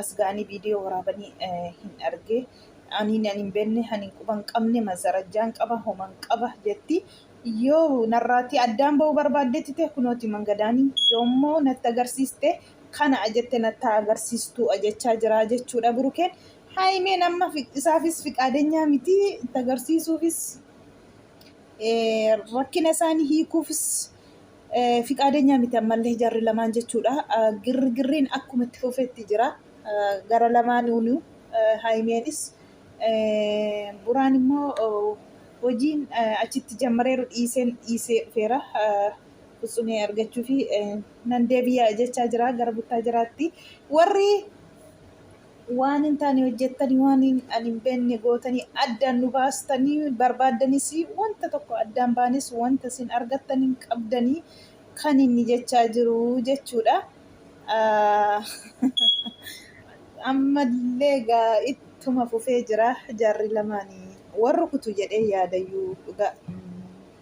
as ga'anii viidiyoo waraabanii hin arge ani nan hin beekne ani quba hin qabne masarajjaan qaba homan qaba jetti yoo narraatti addaan ba'uu barbaaddetti ta'e kunooti mangadaanii yoommoo natti agarsiiste kana ajette natti agarsiistuu ajechaa jiraa jechuudha burukeen haayimeen amma isaafis fiqaadenyaa miti itti agarsiisuufis rakkina isaanii hiikuufis Fiqaadenyaa miti ammallee jarri lamaan jechuudha. Girgirriin akkuma itti fufetti jira. Gara lamaanuunu Haayimeenis Buraan immoo hojiin achitti jammareeru dhiiseen dhiisee dhufeera. Kutsumee argachuu fi nan deebi'a jechaa jira gara buttaa jiraatti. Warri Waan hin taane hojjettanii, waan ani hin beekne gootanii addaan nu baastanii barbaaddanis, wanta tokko addaan baanes wanta isin argattan hin qabdanii kan inni jechaa jiru jechuudha. Ammallee egaa ittuma fufee jira jarri lamaanii. Wal rukutu jedhee yaadayyuu dhugaa.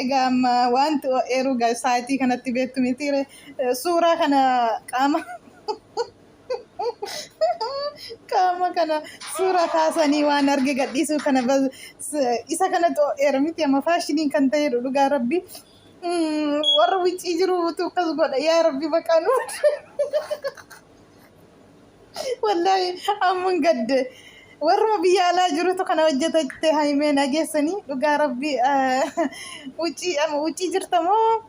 Egaa amma wanti oo'eeru gaa saayitii kanatti beektu mitiire suuraa kana qaama qaama kana suuraa kaasanii waan arge gadhiisuu kana bas- s- isa kanatti oo'eera miti amma faashiniin kan ta'eedha dhugaa rabbi Mm, warra wiccii jiru utuu akkas godha yaa rabbi baqaa nu Wallaahi amman gadde warruma biyya alaa jirutu kana hojjeta jette haimee nageessanii dhugaa rabbii uccii ama uccii jirta moo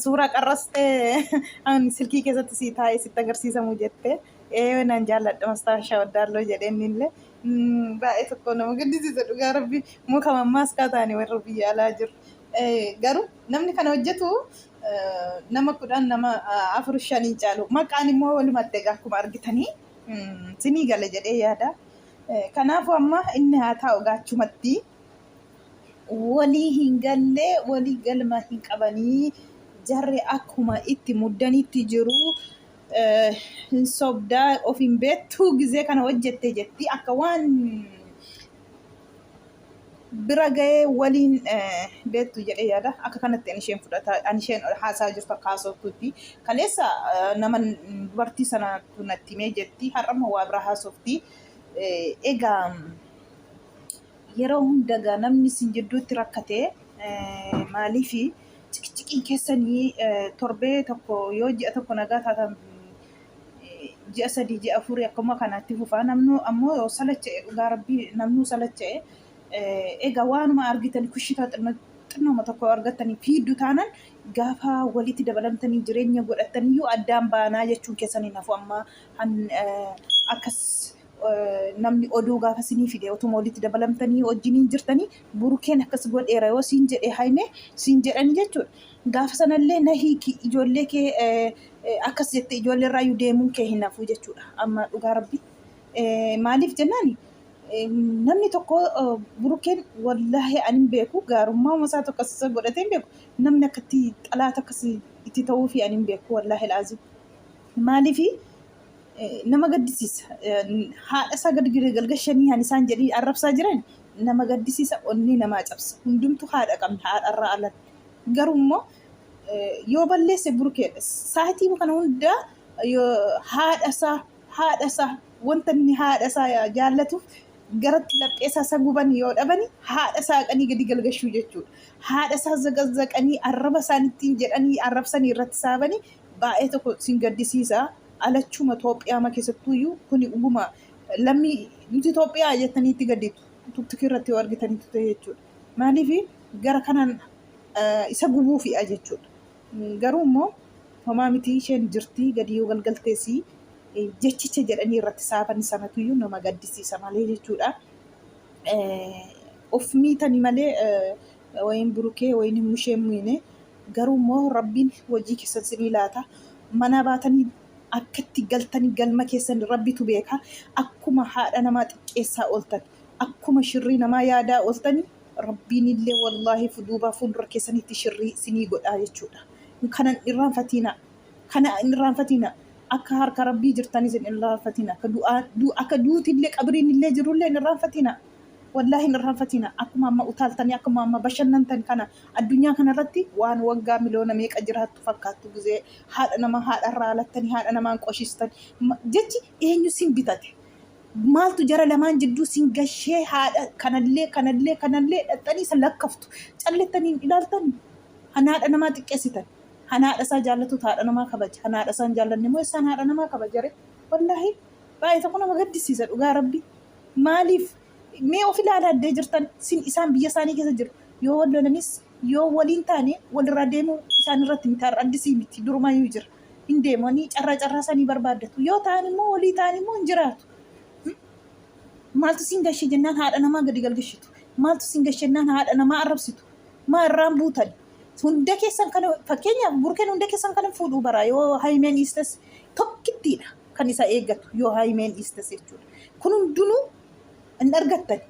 suuraa qarrastee an silkii keessatti sii taa'ee sitti agarsiisamu jette ee nan jaalladha mastaashaa waddaalloo jedheen illee baay'ee tokko nama gaddisiisa dhugaa rabbii muka mammaaskaa taane warra biyya alaa jiru garuu namni kana hojjetu nama kudhan nama afur shan hin caalu maqaan immoo walumatti egaa akkuma argitanii sinii gala jedhee yaada kanaafuu amma inni haa taa'u gaachumatti walii hin gallee walii galma hin qabanii jarri akkuma itti muddanitti jiru hin sobdaa of hin beektuu gizee kana hojjette jetti akka waan bira ga'ee waliin beektu jedhee yaada. Akka kanatti ani isheen fudhata ani isheen haasaa jirtu akka haasoftutti. Kaleessa nama dubartii sana natti himee jetti har'ammoo waa biraa haasofti. Egaa yeroo hunda egaa namni isin jidduutti rakkate maaliif ciqiciqiin keessanii torbee tokko yoo ji'a tokko nagaa taatan ji'a sadii ji'a afurii akkuma kanaatti fufaa namnu ammoo salacha'e dhugaa rabbii namnuu salacha'e egaa waanuma argitan kushitaa xinnooma tokko argattanii fiiddu taanan gaafa walitti dabalamtanii jireenya godhattaniyyuu addaan baanaa jechuun keessan hin hafu amma akkas namni oduu gaafa sinii fide otuma walitti dabalamtanii wajjiniin jirtanii burukeen akkas godheera yoo siin jedhe haimee siin jedhanii jechuudha Gaafa sanallee na hiiki ijoollee kee akkas jettee ijoollee irraayyuu deemuun kee hin hafu jechuudha. Amma dhugaa rabbi maaliif jennaan namni tokko burukeen wallaahi ani hin beeku gaarummaa masaa tokko akkasisa godhatee hin beeku namni akkatti xalaata akkasi itti ta'uu fi ani hin beeku wallaahi laazim maaliif nama gaddisiisa haadha isaa gad galgashanii ani isaan jedhii arrabsaa jiran nama gaddisiisa onnee namaa cabsa hundumtu haadha qabna haadha irraa alan Garuu immoo yoo balleesse burkeedha. Saayitii kana hunda haadha isaa haadha isaa wanta inni haadha isaa jaallatuuf garatti laphee isaa isa guban yoo dhabani haadha isaa qanii gadi galgashuu jechuudha. Haadha isaa zaqazaqanii arraba isaan ittiin jedhanii arrabsanii irratti saabanii baay'ee tokko sin gaddisiisa. Alachuma Itoophiyaama keessattuuyyuu kuni dhuguma lammii nuti Itoophiyaa jettanii itti gadditu. Tiktookii irratti yoo argitanitu ta'e jechuudha. Maaliif gara kanaan isa gubuufiidha jechuudha. Garuu immoo homaa miti isheen jirti gadi yoo galgaltees jechicha jedhanii irratti saafan sanatu iyyuu nama gaddisiisa malee jechuudha. Of miitani malee wayin burukee wayin mushee miine garuu immoo rabbiin hojii keessan sinii laata. Manaa baatanii akkatti galtanii galma keessan rabbitu beeka. Akkuma haadha namaa xiqqeessaa ooltan. akkuma shirrii namaa yaadaa ooltani rabbiin illee wallaahi fuduubaa fuuldura keessanitti shirrii sinii godhaa jechuudha kanan irraanfatiina kana hin irraanfatiina akka harka rabbii jirtanis hin irraanfatiina akka du'aa du- akka duuti illee qabriin illee jiru illee hin irraanfatiina wallaahi hin irraanfatiina akkuma amma utaaltanii akkuma amma bashannantan kana addunyaa kanarratti waan waggaa miliyoona meeqa jiraattu fakkaattu gizee haadha namaa haadha irraa alattanii haadha namaan qoshistan Ma- jechi eenyu sin bitate Maaltu jara lamaan jidduu sin gashee haadha kanallee kanallee kanallee dhaxxanii san lakkaftu callittanii hin ilaaltan han haadha namaa xiqqeessitan han haadha isaa jaallatutu haadha namaa kabaja han haadha isaa hin jaallanne immoo essaan haadha namaa kabajare wallaahi baay'ee tokko nama gaddisiisa dhugaa rabbi maaliif mee of ilaalaa addee jirtan sin isaan biyya isaanii keessa jiru yoo wal lolanis yoo waliin taane walirraa deemuu isaan irratti miti har'a addisii miti durumayyuu jira. hin deemanii carraa carraa sanii barbaaddatu yoo ta'an immoo walii ta'an immoo hin jiraatu maaltu siin gashee jennaan haadha namaa gadi galgashitu maaltu siin gashee jennaan haadha namaa arrabsitu maa irraan buutan hunda keessan kan fakkeenyaaf burkeen hunda keessan kan fuudhuu bara yoo haymeen dhiistes tokkittiidha kan isa eeggatu yoo haymeen dhiistes jechuudha kun hundinuu hin argattan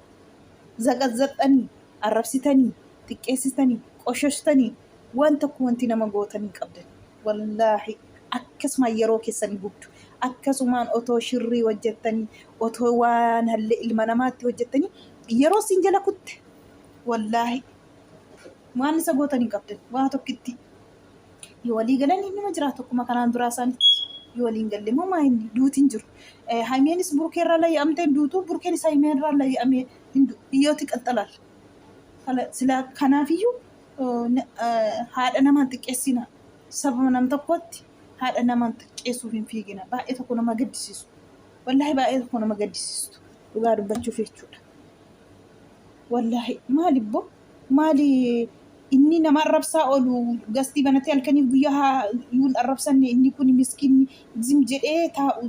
zaqazzaqxanii arrabsitanii xiqqeessitanii qoshashtanii Waan tokko wanti nama gootan hin qabdan. Wallaahi akkasumaan yeroo keessan hin gubdu. Akkasumaan otoo shirrii hojjettanii, otoo waan hallee ilma namaatti hojjettanii yeroo siin jala kutte. Wallaahi waan isa gootan hin qabdan. Waa tokkitti yoo walii galan innuma jira tokkuma kanaan duraa isaanitti. Yoo waliin galle immoo maa inni duuti hin jiru. Eh, Haymeenis burkee irraa layya'amtee hin duutu, burkeenis haymee irraa layya'amee hin du'u. Hiyyooti qaxxalaal. Kala- Silaa kanaafiyyuu haadha nama hin xiqqeessina. Sababa nam tokkotti haadha nama hin xiqqeessuuf hin fiigina. Baay'ee tokko nama gaddisiisu. Wallaahi baay'ee tokko nama gaddisiistu. Dhugaa dubbachuuf jechuudha. Wallaahi maali bbo maali inni nama arrabsaa oolu gastii banatee halkanii guyyaa haa yuun arrabsanne inni kun miskiinni zim jedhee taa'u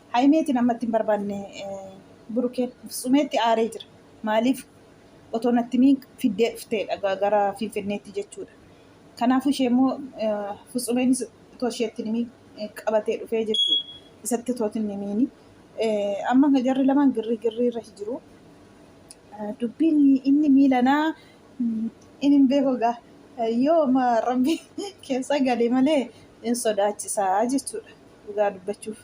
Hayimeetiin ammatti hin barbaanne Burukeen. Fitsumeetti aaree jira. Maaliif otoo natti himiin fiddee dhufteedha ga- gara Finfinneetti jechuudha. Kanaafuu ishee immoo Fitsumeenis otoo isheetti hin himiin eh, qabatee dhufee jechuudha. Isatti otoo hin himiini. Eh, Amma jarri lamaan girrii girrii irra jiru. Eh, Dubbiin inni miilanaa Inin beeku egaa yooma rabbi keessa gale malee in sodaachisaa jechuudha dhugaa dubbachuuf.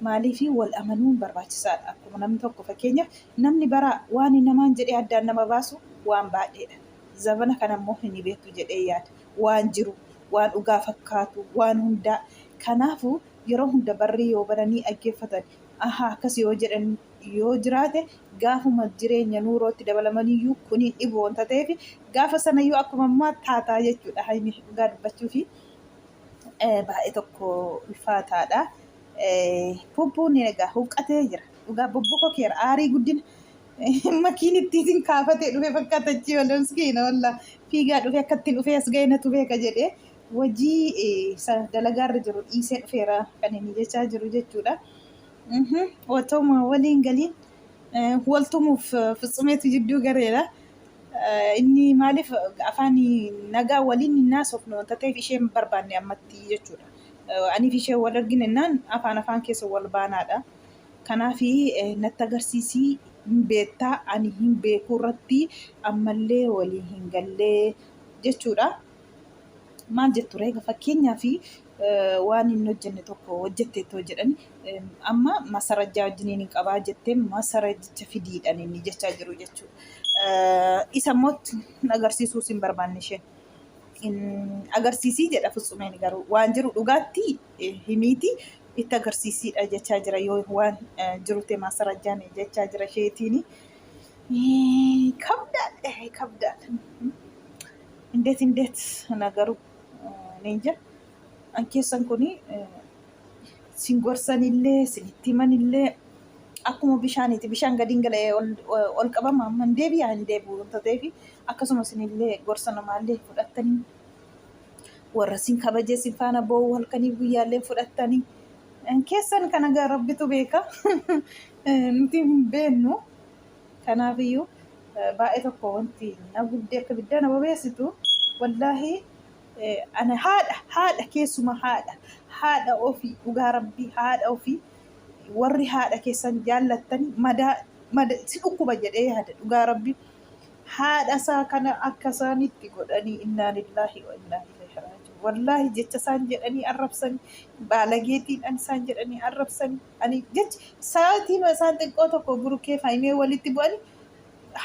Maaliifii wal amanuun barbaachisaadha. Akkuma namni tokko fakkeenyaaf namni bara waan namaan jedhee addaan nama baasu waan baadheedha. Zabana kana immoo hin beektu jedhee yaada. Waan jiru, waan dhugaa fakkaatu, waan hundaa. Kanaafuu yeroo hunda barrii yoo baranii dhaggeeffatan ahaa akkas yoo jedhan yoo jiraate gaafuma jireenya nuurootti dabalamaniyyuu kun hin dhibu wanta ta'eef gaafa sanayyuu akkuma ammaa taataa jechuudha haymi dhugaa dubbachuufi baay'ee tokko ulfaataadha. Bubbuun egaa huqqatee jira dhugaa bubbuko keera aarii guddina makiin ittiin isin kaafatee dhufe fakkaata achii wala miskiina walla fiigaa dhufe akka ittiin dhufee as ga'e natu beeka jedhee wajii dalagaarra jiru dhiisee dhufeera kan inni jechaa jiru jechuudha. Mhm. Otoma waliin galiin eh, wal tumuuf eh, fitsumeetu jidduu gareera. Eh, Inni maaliif afaan nagaa waliin hin haasofne wanta ta'eef isheen barbaanne ammatti jechuudha. Eh, Aniif ishee wal argine innaan afaan afaan keessa wal baanaadha. Kanaaf eh, natti agarsiisii hin beektaa ani hin beekuu irratti ammallee walii hin gallee jechuudha. maal jettu reega fakkeenyaaf waan hin hojjenne tokko hojjetteettoo jedhan amma masarajjaa wajjiniin hin qabaa jettee masarajjicha fidiidhan inni jechaa jiru jechuudha. Isa immoo agarsiisuus hin barbaanne isheen. Agarsiisii jedha Fitsumeen garuu waan jiru dhugaatti himiiti itti agarsiisiidha jechaa jira yoo waan jiru ta'e masarajjaan jechaa jira isheetiin. Kabdaadha kabdaadha. Indeet indeet nagaru Leenca an keessan kun sin gorsanillee sinitti himanillee akkuma bishaaniiti bishaan gadiin gala'ee ol, ol qabama amma hin deebi'a hin deebi'u wanta ta'eef akkasuma sinillee gorsa namaallee fudhattanii warra sin kabajee sin faana boo'u halkanii guyyaallee fudhattanii keessan kana gaa rabbitu beeka nuti hin beennu. Kanaaf iyyuu baay'ee tokko wanti na gubdee akka biddaa na bobeessitu wallaahi ana haadha haadha keessuma haadha haadha ofii dhugaa rabbii haadha ofii warri haadha keessan jaallattan madaa mada si dhukkuba jedhee yaada dhugaa rabbii haadha isaa kana akka isaanitti godhanii innaa lillaahi wa innaa ilaihi raaji'uun wallaahi jecha isaan jedhanii arrabsanii baalageetiidhaan isaan jedhanii arrabsanii ani jechi sa'aatii isaan xiqqoo tokko burukee fi haayimee walitti bu'ani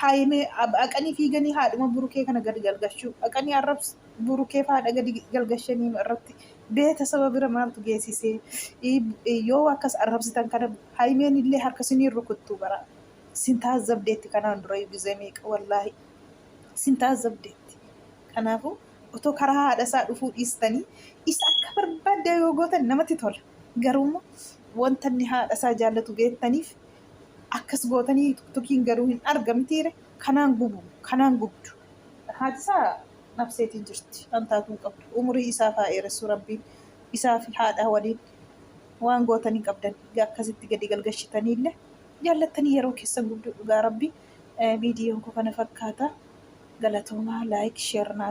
haayimee haqanii fiiganii haadhuma burukee kana gadi galgashuu haqanii arrabsu burukee fi haadha gadi galgashanii irratti beeta saba bira maaltu geessisee yoo akkas arrabsitan kana haayimeen illee harka siniin rukuttuu bara sin taazzabdeetti kanaan dura gizee meeqa wallaahi sin taazzabdeetti kanaafuu otoo karaa haadha isaa dhufuu dhiistanii isa akka barbaadda yoo gootan namatti tola. Garuummoo wanta inni haadha isaa jaallatu geettaniif akkas gootanii tukiin garuu hin arga mitiire kanaan gubu kanaan gubdu. Haati isaa nafseetiin jirti waan taatu hin qabdu umurii isaaf haa eeressu rabbiin isaa fi haadha waliin waan gootan hin qabdan egaa akkasitti gadi galgashitanii illee jaallattanii yeroo keessan gubdu dhugaa rabbii viidiyoon koo kana fakkaata galatoomaa laayik sheer naa